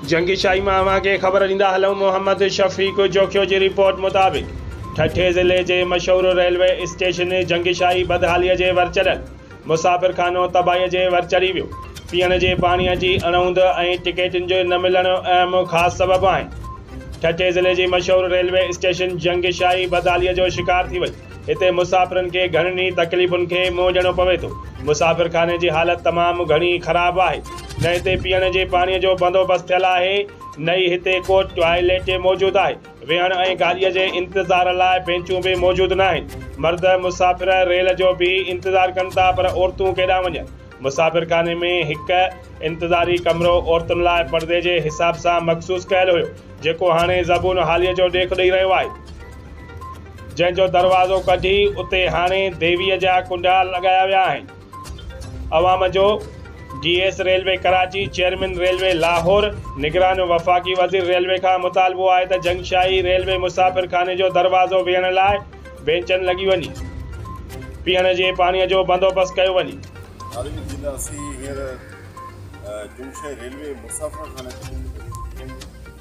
جنگي شاهي مان اوهان کي خبر ڏيندا هلون محمد شفيق جوکيو جي رپورٽ مطابق ٺٽي ضلعي جي مشهور ريلوي اسٽيشن جنگي شاهي بدحالي جي ور چڙهيل مسافر خانو تباهي جي ور چڙهي ويو پيئڻ جي پاڻي جي اڻهوند ۽ ٽڪيٽن جو نه ملڻ اهم خاص سبب آهن ٺٽي ضلعي جي مشهور ريلوي اسٽيشن جنگي شاهي بدحالي جو شڪار ٿي وئي هتي مسافرن کي گهڻين ئي تڪليفن کي منهن ڏيڻو پوي ٿو. مسافرخاني جي حالت تمام گهڻي خراب آهي. نه هتي پيئڻ جي پاڻي جو بندوبست ٿيل آهي، نه ئي هتي ڪو ٽوائليٽ موجود آهي. ويهڻ ۽ گاڏيء جي انتظار لاء بينچون به موجود ناهن. مرد مسافر ريل جو بيهي انتظار ڪن ٿا پر عورتون ڪيڏانهن وڃن؟ مسافرخاني ۾ هڪ انتظاري ڪمرو عورتن لاء پردي جي حساب سان مخصوص ڪيل هيو، جيڪو هاڻي زبون حاليء جو ڏيک ڏئي رهيو آهي. جنهن جو دروازو ڪڍي اتي هاڻي ديويء جا ڪنڊا لڳايا ويا آهن. عوام جو D S railway Karachi, chairman railway Lahore, نگران وفاقي وزير ريلوي کان مطالبو آهي ته جنگشاهي ريلوي مسافرخاني جو دروازو ويهڻ لاء بينچن لڳي وڃي پيئڻ جي پاڻي جو بندوبست ڪيو وڃي. ناظرين جي ته اسين هينئر جنگشاهي ريلوي مسافرخاني تي پهچي ويا آهيون.